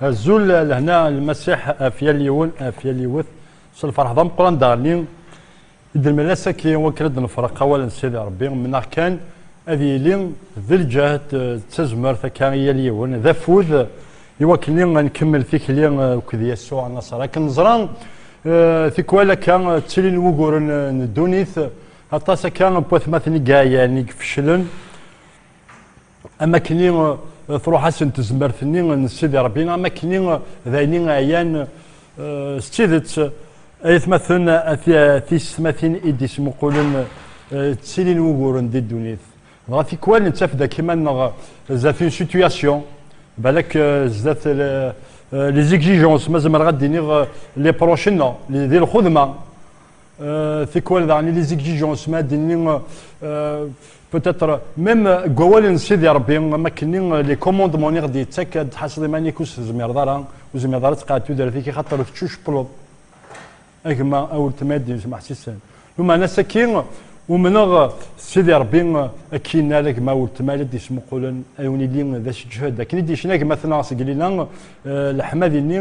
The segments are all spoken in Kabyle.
Azul lehna lmasiḥ af yal yiwen af yal yiwet s lferḥ d ameqqran daɣenni i d-nmal ass-agi wakken ad d-nefreq awal n Sidi Rebbi mennaɣ kan ad yili d lǧehd d tazmert akka i yal yiwen d afud i wakken ad nkemmel tikli akked Yasuɛ Nnasser akken neẓra tikwal akka ttilin wuguren n ddunit aṭas akka n watmaten i yeɛyan i ifeclen Am wakken i truḥ-asen tezmert-nni n Sidi Rebbi, am wakken i d ayen i ɛyan. S tidet, ay atmaten, a tiysetmatin i d-yettmuqulen, ttilin wuguren di ddunit. Dɣa tikwal nettaf-d akk iman-nneɣ zdat une situation, balak zdat les exigences, ma zemreɣ ad d-iniɣ les proches-nneɣ, di lxudma. Euh, tikwal daɣen ili zigzij usma d-inni euh, euh, peut-être même deg wawal n Sidi Rebbi am akkenni les commandements i ɣ-d-yettak ad tḥaseḍ iman-ik ur tezmireḍ ara ur tezmireḍ ara ad tqeɛɛed tudert-ik axaṭer teččucpleḍ a gma a weltma i d-yens meḥsisen lumeɛna sakki umneɣ Sidi Rebbi akka yenna ala gma weltma la d-yesmuqulen a wen-ili d asejhed akken i d-yecna gma-tneɣ seg Lila leḥma d-inni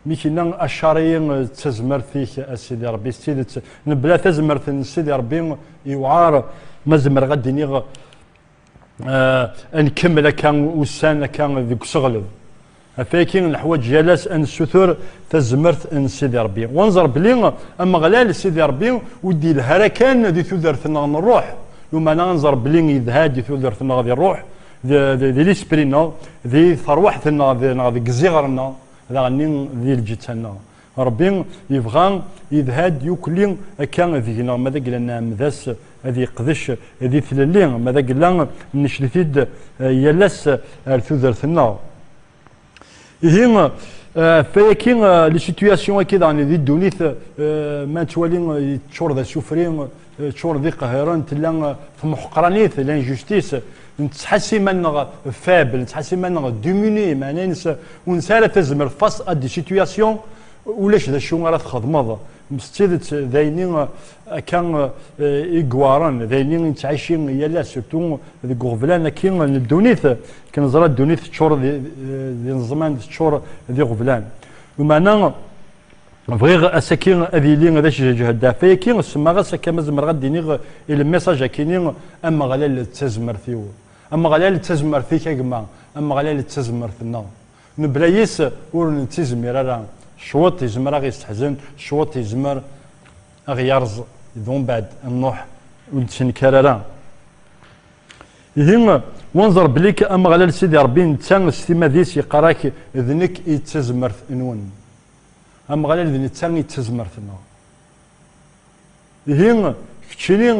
Nekna acariyi d tazmert-ik a Sidi Ṛebbi s tidet nebla tazmert n Sidi Ṛebbi yewɛaṛ ma zemreɣ ad d-iniɣ ad nkemmel akka ussan akka deg useɣleb ɣef wayagi neḥwaǧ yal ass ad nessutur tazmert n Sidi Ṛebbi u ad nẓer belli Ameɣlal Sidi Ṛebbi ur d-yelha ara kan di tudert-nneɣ n ṛṛuḥ lumana ad nẓer belli yedha-d di tudert-nneɣ di ṛṛuḥ, di lispri-nneɣ, di teṛwaḥt-nneɣ neɣ deg iziɣer-nneɣ. Daɣenni di lǧetta-nneɣ. Ṛebbi yebɣa yedha-d yukkli akka deg-neɣ ma d agella nɛemmed-as ad yeqdec di tlelli, ma d agella necd-it-id yal ass ar tudert-nneɣ. Ihi ɣef wayaki, les situations-agi daɣen di ddunit ma nettwali yeččur d asufri, ččur d iqehhiren, tella temḥeqranit, l'injustice, nettḥas iman-nneɣ faible, nettḥas iman-nneɣ diminué, meɛna ines ur nesɛi ara tazmert face à des situations ulac d acu ara txedmeḍ s tidet d ayenni akka i yewɛren, d ayenni i nettɛici yal ass surtout deg uɣeblan akki n ddunit, akken neẓra ddunit teččur d ineẓman, teččur d iɣeblan, lmeɛna. bɣiɣ asaki ad yili d acjajah ddeɛf ayaki, semmaɣ-as akka ma zemreɣ ad d-iniɣ i lemmiṣaj akini, Ameɣlal d tazmert-iw, Ameɣlal d tazmert-ik a gma, Ameɣlal d tazmert-nneɣ. Mebla yes ur nettizmir ara, cwiṭ yezmer ad ɣ-yesteḥzen, cwiṭ yezmer ad ɣ-yerẓ, d umbeɛd nruḥ ur nettenkar ara. Ihi, wenẓer belli akka Ameɣlal Sidi Ṛebbi netta s timad-is yeqqar-ak d nekk i d tazmert-nwen. Ameɣlal d netta i d tazmert-nneɣ. Ihi, keččini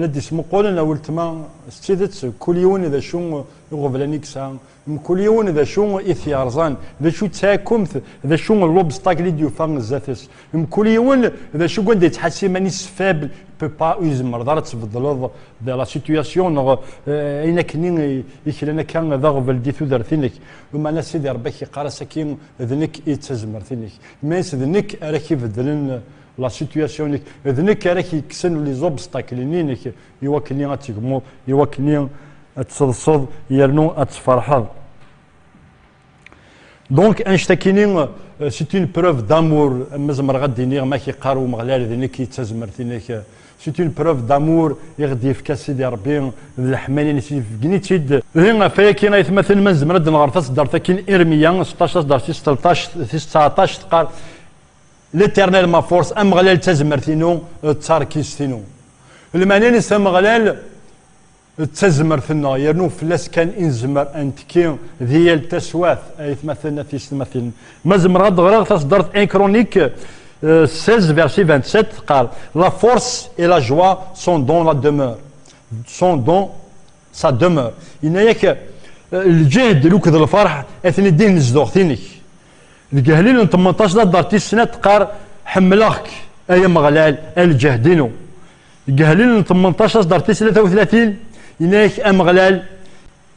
la d-ismuqqulen a weltma, s tidet, kul yiwen d acu iɣeblan i yesɛa, Mkul yiwen d acu i t-yerẓan, d acu d taɛkumt, d acu n lobstakel i d-yufa zdat-s. Mkul yiwen d acu deg wanda yettḥas iman-is faible, peut pas, ur izemreḍ ara ad tbeddleḍ de la situation neɣ ayen akkenni i klan akka d aɣbel di tudert-inek. Lmeɛna Sidi Rebbi ak yeqqar-as aki, d nekk i d tazmert-inek. Means d nekk ara ak-ibeddlen la situation-ik, d nekk ara ak-yekksen les obstacles-nni-inek, Iwakken-i ad tegmuḍ, iwakken-i ad tseḍseḍ yernu ad tferḥeḍ. Donc, annect-akini, c'est une preuve d'amour, ma zemreɣ ad d-iniɣ, ma k-iqqar Umeɣlal d nekk i d tazmert-inek, c'est une preuve d'amour i ɣ-d-yefka Sidi Rebbi, d leḥmala-ines, yefgen-itt-id. Ihi, ɣef wayaki, aytmaten, ma nezmer ad d-nɣer taseddart-agi n Irmiya seṭṭac, taseddart tis tleṭṭac, tis tseɛṭac, teqqar, L'éternel ma force, Ameɣlal d tazmert-inu, d tarkist-inu. Lmeɛna-nnes Ameɣlal d tazmert-nneɣ, yernu fell-as kan i nezmer ad nettekki di yal taswiɛt. Aytmaten, a tiysetmatin, ma zemreɣ ad d-ɣreɣ taṣeddart Un Chronique 16 verset 27 teqqar, La force et la joie sont dans la demeure, sont dans sa demeure, yenna-ak, Lǧehd akked lfeṛḥ atni ddih n zduɣt-nnek. Deg Ahlil n tmenṭac d aḍar tis snat teqqar, Ḥemmleɣ-k, ay Ameɣlal, a lǧehd-inu. Deg Ahlil n tmenṭac aẓdar tis tlata u tlatin, yenna-ak Ameɣlal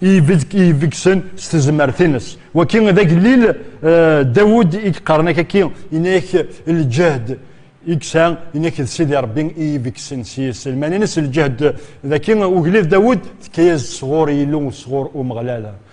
i yebegsen s tezmert-ines. Waki d agellil Dawed i yeqqaren akaki, yenna-ak lǧehd i yesɛa, yenna-ak d Sidi Rebbi i yebegsen s yiselman-ines. Lǧehd daki ugellid Dawed, tekka-yas-d sɣur Yillu, sɣur Umeɣlal.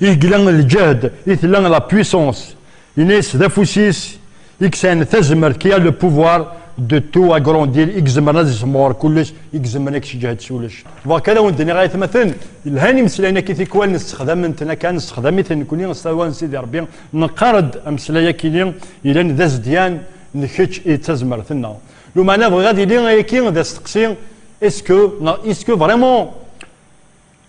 Igla lǧehd i tella la puissance ines d afus-is i yesɛan tazmert qui a le pouvoir de tout agrandir i izemren ad isemɣer kullec i izemren ad yesseǧhed s ulec. Beṛka ad awen-d-nniɣ ay atmaten yelhan imeslayen-agi tikwal nessexdamen-ten akka nessexdam-iten nekkni s talwa n Sidi Ṛebbi neqqar-d ameslay akini yellan d azedyan n kečč i d tazmert-nneɣ lumeɛna bɣiɣ ad yili ayagi d asteqsi est-ce que neɣ est-ce que vraiment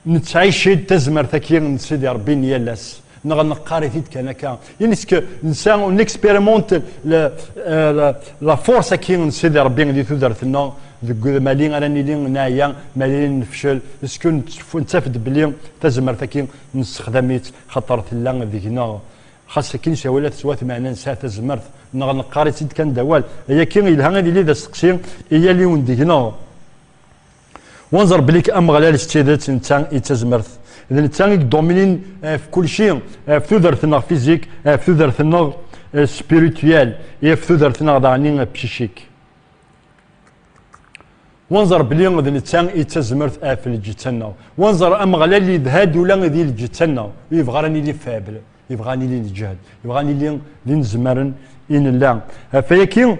Nettɛic-id tazmert-agi n Sidi Ṛebbi n yal ass, neɣ neqqar-it-id kan akka, ineske nsa, on expérimente la force-agi n Sidi Ṛebbi di tudert-nneɣ, deg udmali ara nili neɛya, maɛli nefcel, sku nettaf-d belli tazmert-agi nessexdam-itt xaṭer tella deg-neɣ, xas akin ca wala tettwat meɛna nesɛa tazmert, neɣ neqqar-itt-id kan d awal, ayagi yelha ad yili d asteqsi i yal yiwen deg-neɣ. Wanzer belli-k Ameɣlal s tidet netta i d tazmert. D netta i yedominin ɣef kulci, ɣef tudert-nneɣ fizik, ɣef tudert-nneɣ spirituelle, ɣef tudert-nneɣ daɣen psychique. Wanzer belli d netta i d tazmert ɣef lǧetta-nneɣ. Wanzer Ameɣlal yedha-d ula di lǧetta-nneɣ, ur yebɣi ara ad nili faible, yebɣa ad nili neǧhed, yebɣa ad nili d inezmaren i nella. Ɣef wayagi,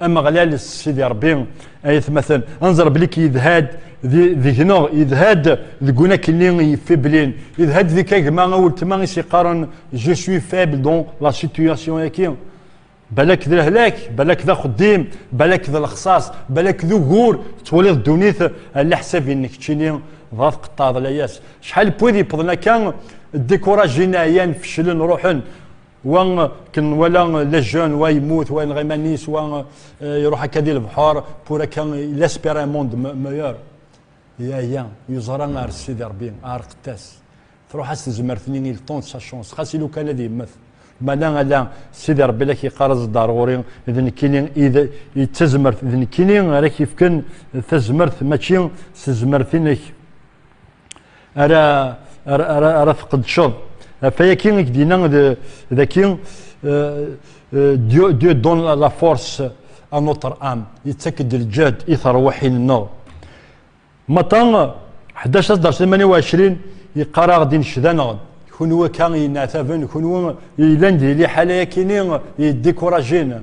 Ameɣlal Sidi Ṛebbi ay atmaten anẓer belli yedha-d deg-neɣ yedha-d deg unakelli yeffiblin yedha-d deg kagma a weltma i s-yeqqaren je suis faible dans la situation yaki balak d lehlak balak d axeddim balak d lexṣaṣ balak d ugur tettwaliḍ ddunit ala ḥsab-nnek ččini dɣa tqeṭṭɛeḍ layas acḥal n wid yewwḍen akka découragé ɛyan feclen ruḥen wa ken wala la jeune wa yemmut wa yenɣa iman-is wa iruḥ akka di lebḥur pour akka il espère un monde meilleur yaya yeẓra ar sidi rebbi areqtas truḥ-as tezmert-nni il temps sa chance xas ilu kan ad yemmet mala ala sidi rebbi la k-yeqqar aẓ-d ar ɣur-i d nekkini i d tazmert d nekkini ara k-yefken tazmert mačči s tezmert-inek ara ara ara, ara tqedceḍ ɣef ayagi i k-d-yenna daki Dieu, Dieu donne la force à notre âme yettak-d lǧehd i terwiḥin-nneɣ maṭa 11 asdeṛs 28 yeqqar-aɣ-d incdaneɣ-d kunwi akka yenneɛtaben kunwi yellan di liḥala yakini yeddikurajen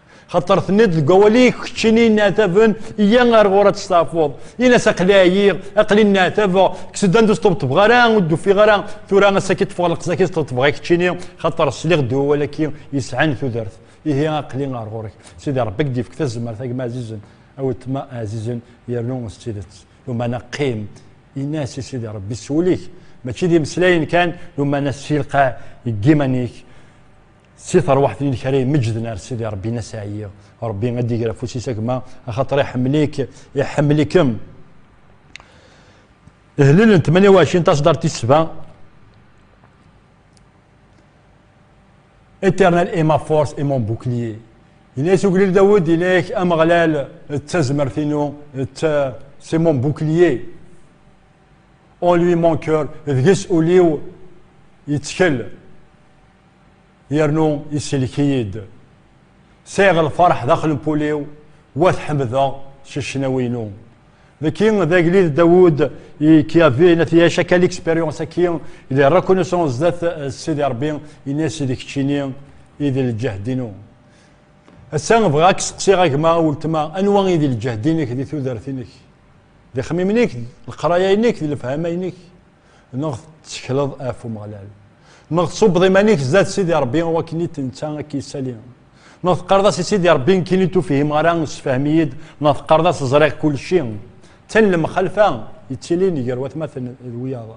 xaṭer tenniḍ deg wawal-ik keččini nneɛtaben iyya ar ɣur ad testeɛfuḍ in-as aqli ɛyiɣ aqli nneɛtabeɣ kkes-d anda ur sṭebṭbeɣ ara ur d-ufiɣ ara tura asaki ṭṭfeɣ leqzaki sṭebṭbeɣ i keččini xaṭer sliɣ-d i wawal-aki yesɛan tudert ihi aqli ar ɣur-k sidi rebbi ak-d-ifk tazmert a gma ɛzizen a weltma ɛzizen yernu s tidet lumana qqim in-as i sidi rebbi s wul-ik mačči d imeslayen kan lumana ssilqaɛ deg iman-ik Si terwaḥt-nnek ara imeǧǧden ar Sidi Ṛebbi n aseɛyi. Ṛebbi ad d-iger afus-is a gma, axaṭer iḥemmel-ik, iḥemmel-ikem. Ihlel n 28 taṣdart tis sba. Éternel est ma force et mon bouclier. Yenna-yas uglil Dawed, yenna-yak Ameɣlal d tazmert-inu, c'est mon bouclier. En lui mon cœur, deg-s ul-iw yettkel. yernu isellek-iyi-d. Sɛiɣ lferḥ daxel n wul-iw, wa t-ḥemdeɣ s ccnawi-inu. Neki d agellid Dawud i Kiavi n At Yyac akka l'expérience aki il est reconnaissant zdat Sidi Rebbi ini-as d keččini i d lǧehd-inu. Ass-a bɣiɣ ad k-seqsiɣ a gma, a weltma, anwa i d lǧehd-inek di tudert-inek? D ixemmimen-ik, d leqraya-inek, d lefhama-inek? Neɣ tettekleḍ af Umeɣlal. Neɣ tṣubbeḍ iman-ik zdat Sidi Rebbi wakken i t-netta ad k-yessali. Neɣ teqqareḍ-as i Sidi Rebbi nekkin i tufhimeɣ ara sefhem-iyi-d neɣ teqqareḍ-as ẓriɣ kulci. D tin lemxalfa yettilin gar watmaten d wiyaḍ.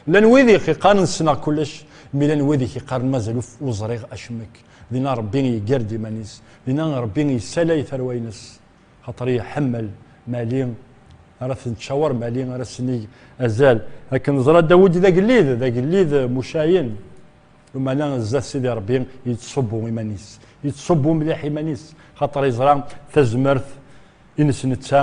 Llan wid i k-iqqaren ssneɣ kullec, mi llan wid i k-iqqaren mazal ur ẓriɣ acemmek. Dinna Rebbi yeggar-d iman-is. Dinna Rebbi yessalay tarwa-ines. Xaṭer iḥemmel Mali ara ten-tcawer Mali ara s-nig azal akken neẓra Dawed d agellid d agellid mucayen umana zdat Sidi Rebbi yettṣubbu iman-is yettṣubbu mliḥ iman-is xaṭer yeẓra tazmert ines netta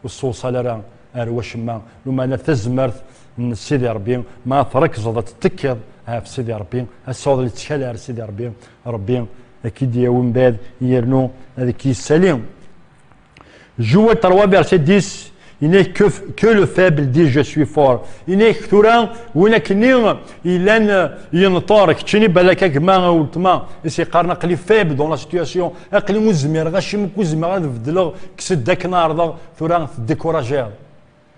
ur ssewṣal ara ar wacemma umana tazmert n Sidi Rebbi ma trekzeḍ ad tettekkiḍ ɣef Sidi Rebbi ad tesɛuḍ lettkal ar Sidi Rebbi Rebbi ad k-id-yawi mbad yernu ad k-yessali Jouer terwa verset 10 il n'est que, que le faible dit je suis fort il n'est que tura win akenni yellan yenṭer keččini balak a gma a weltma i s-yeqqaren aqli faible dans la situation aqli ur zmireɣ acimi ur zmireɣ ad beddleɣ kkes-d akken ɛerḍeɣ tura tdekurajiḍ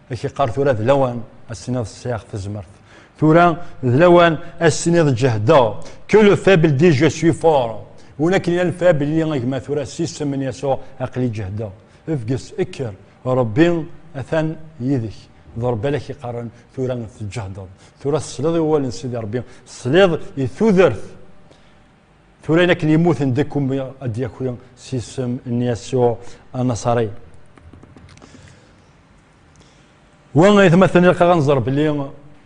ak iqqar tura d lawan as-tiniḍ sɛiɣ tezmert tura d lawan as-tiniḍ ǧehdeɣ que le faible dit je suis fort win akken yal faible yili agma tura s isem n Yasuɛ aqli ǧehdeɣ efges ekker Rebbi atan yid-k d Rebbi ala k-iqqaren tura teǧehdeḍ tura tesliḍ i wawal n Sidi Rebbi tesliḍ i tudert Tura ayen akken yemmuten deg ummi ad d-yaki s isem n Yasuɛ Anaṣari. Wa ay atmaten ilaq ad nẓer belli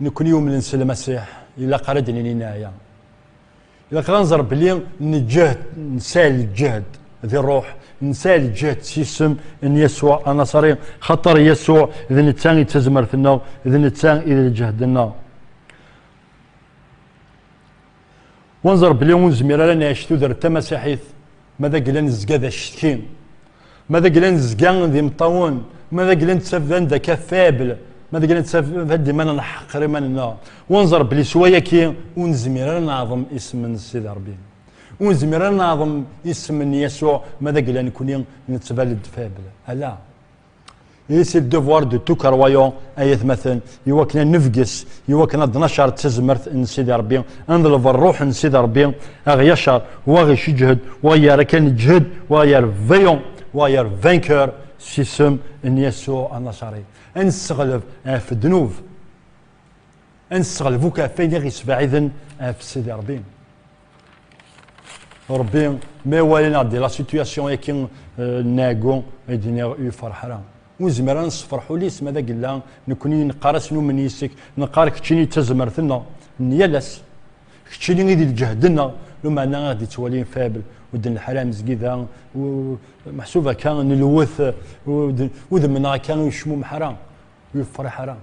nekkni yumnen s Lmasiḥ ilaq ara d-nini neɛya. Ilaq ad nẓer belli neǧǧehd, nesɛi lǧehd di ṛṛuḥ, nesɛi lǧehd s isem n Yasuɛ Anaṣari, xaṭer Yasuɛ d netta i d tazmert-nneɣ, d netta i d lǧehd-nneɣ. Wanzer bli ur nezmir ara nɛic tudert tamasiḥit ma d agla nezga d acetki, ma d agla nezga d imeṭṭawen, ma d agla nettaf d anda akka faible, ma d agla nettaf d iman neḥqer iman-nneɣ. Wanzer bli s wayaki ur nezmir ara neɛḍem isem n Sidi Rebbi. Ur nezmir ara neɛḍem isem n Yasuɛ ma d agla nekni nettbal-d faible. Ala! Et c'est le devoir de tout croyant, ayatmaten, iwakken ad nefges, iwakken ad nacer d tazmert n Sidi Rebbi, ad neḍleb ṛṛuḥ n Sidi Rebbi, ad ɣ-yacer, wa ɣ-iceǧhed, wa ɣ-yerra kan ǧhed, wa ɣ-yerr vaillant, wa ɣ-yerr vainqueur, s isem n Yasuɛ Anaṣari. Ad nesseɣleb ɣef ddnub, ad nesseɣleb akk ɣef wayen i ɣ-yesbeɛiden ɣef Sidi Rebbi. Rebbi ma iwala-neɣ di la situation eki nɛeggu i d-nniɣ ur yefreḥ ara. Ur nezmir ara nessefreḥ ul-is ma d agella nekni i neqqar-as numen yis-k, neqqar keččini d tazmert-nneɣ n yal ass, keččini i d lǧehd-nneɣ, lumeɛna i ɣ-d-ittwalin faible, ur d-nelḥir ara amezgida, meḥsub akka nelwet, udem-nneɣ akka ur yecmumeḥ ara, ur yefreḥ ara.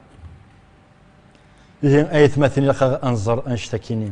Ihi ay atmaten ilaq ad nẓer annect-akini.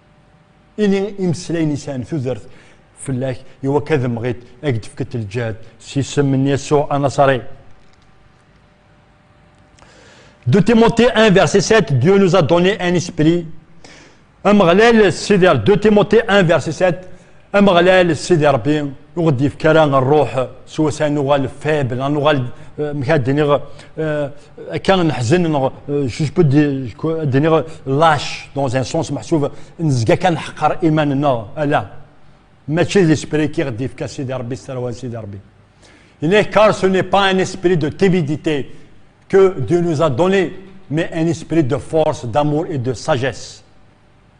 Ini imeslayen yesɛan tudert fell-ak i wakka d mɣit ak d-fket lǧehd s isem n Yasuɛ Anaṣari. De Timothée 1 verset 7 Dieu nous a donné un esprit Ameɣlal Sider De Timothée 1 verset 7 Ameɣlal Sidi Ṛebbi ur ɣ-d-yefk ara ṛṛuḥ s wasa nuɣal faible, a nuɣal mik ad d-iniɣ akka neḥzen neɣ je peux ad d-iniɣ lâche dans un sens meḥsub nezga kan neḥqer iman-nneɣ, ala mačči d esprit i ɣ-d-yefka Sidi Ṛebbi s tarwa n Sidi Ṛebbi. Iniɣ car ce n'est pas un esprit de timidité que Dieu nous a donné mais un esprit de force, d'amour et de sagesse.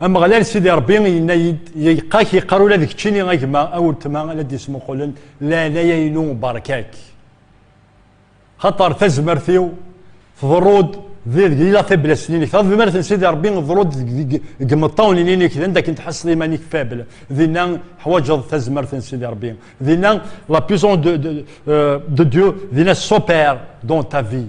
Ameɣlal Sidi Ṛebbi yenna-yi-d, Yeqqa-k yeqqar ula d keččini a gma, a weltma, a la d-yesmuqulen, leɛnaya-inu beṛka-k. Xaṭer tazmert-iw tḍerru-d deg yila faiblesse-nni-inek. Tadmert n Sidi Ṛebbi tḍerru-d deg imeṭṭawen-nni-inek, d anda akken tḥasseḍ iman-ik faible, dinna teḥwaǧeḍ tazmert n Sidi Ṛebbi. Dinna la puissance de Dieu, dinna s'opère dans ta vie.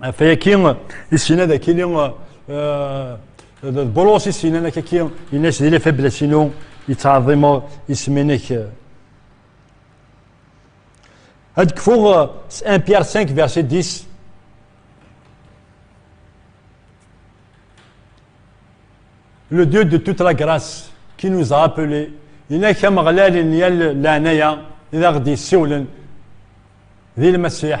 Ɣef wayagi, issin ad akili Bulus issin ad akaki in-as di lafablas-inu yettɛeḍḍimeɣ isem-nnek. Ad kfuɣ s 1 Pierre 5 verset 10 Le Dieu de toute la grâce qui nous a appelés inak ameɣlal n yal leɛnaya i d aɣ-d-yessiwlen di lmasiḥ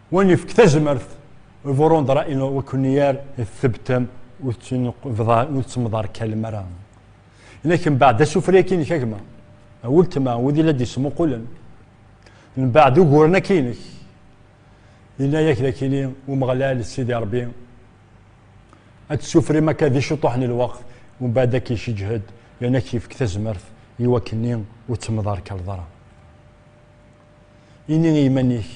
Win yefk tazmert i Burundra ino wekuniyar tebtem ur tettmḍar kalem ara. Inak mbaɛd asufri akinek a gma, a weltma, wid i la d-yesmuqulen. Mbaɛd uguren akinek, yenna-yak d akini Umeɣlal Sidi Rebbi ad tessufrim akka di ciṭuḥ n lweqt mbaɛd ad k-iceǧhed yerna ad k-yefk tazmert i wakken-nni ur tettmḍarkaleḍ ara. Ini i yiman-ik,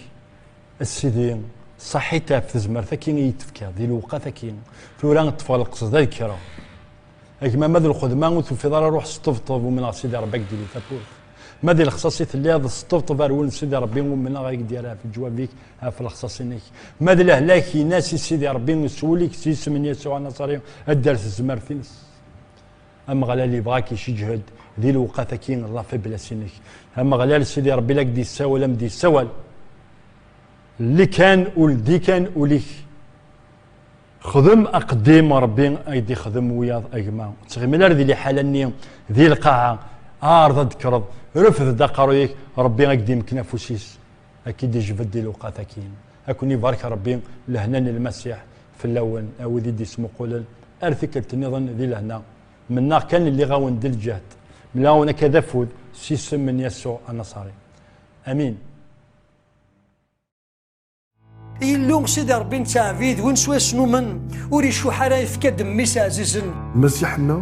a Sidi, saḥit ɣef tezmert-agi i yi-d-tefkiḍ, di lewqat-agi, tura ṭṭfeɣ lqesd ad kkreɣ. A gma ma d lxedma ur tufiḍ ara ruḥ sṭebṭeb, umneɣ Sidi Ṛebbi ad k-d-yili tafut. Ma di lexṣaṣ i telliḍ, sṭebṭeb ar wul n Sidi Ṛebbi, umneɣ ad k-d-yerr ɣef leǧwab-ik, ɣef lexṣaṣ-inek. Ma d lehlak, in-as i Sidi Ṛebbi s wul-ik, s yisem n Yasuɛ Anaṣari, ad d-terr tezmert-ines. Ameɣlal yebɣa ad k-iceǧhed di lewqat-agi n lafiblas-inek. Ameɣlal Sidi Rebbi la k-d-yessawal am d-yessawal. Lli kan u ldi kan ul-ik. Xdem aqeddim Rebbi ay d-ixdem wiyaḍ a gma. Ur ttɣimi ara di liḥala-nni di lqaɛa. Ɛreḍ ad d-tekkreḍ. Refd-d aqerruy-ik, Rebbi ad k-d-imken afus-is, ad k-id-ijbed di lewqat-agi. Ad ken-ibarek Rebbi lehna n Lmasiḥ. Fell-awen, a wid i d-ismuqulen ar tikkelt nniḍen di lehna, mennaɣ kan lliɣ-awen di lǧehd, mlaɣ-awen akka d afud s isem n Yasuɛ Anaṣari. Amin. Illu, Sidi Ṛebbi nettɛebbid, win swayes numen, ur icuḥ ara, yefka-d mmi-s ɛzizen. Lmasiḥ-nneɣ.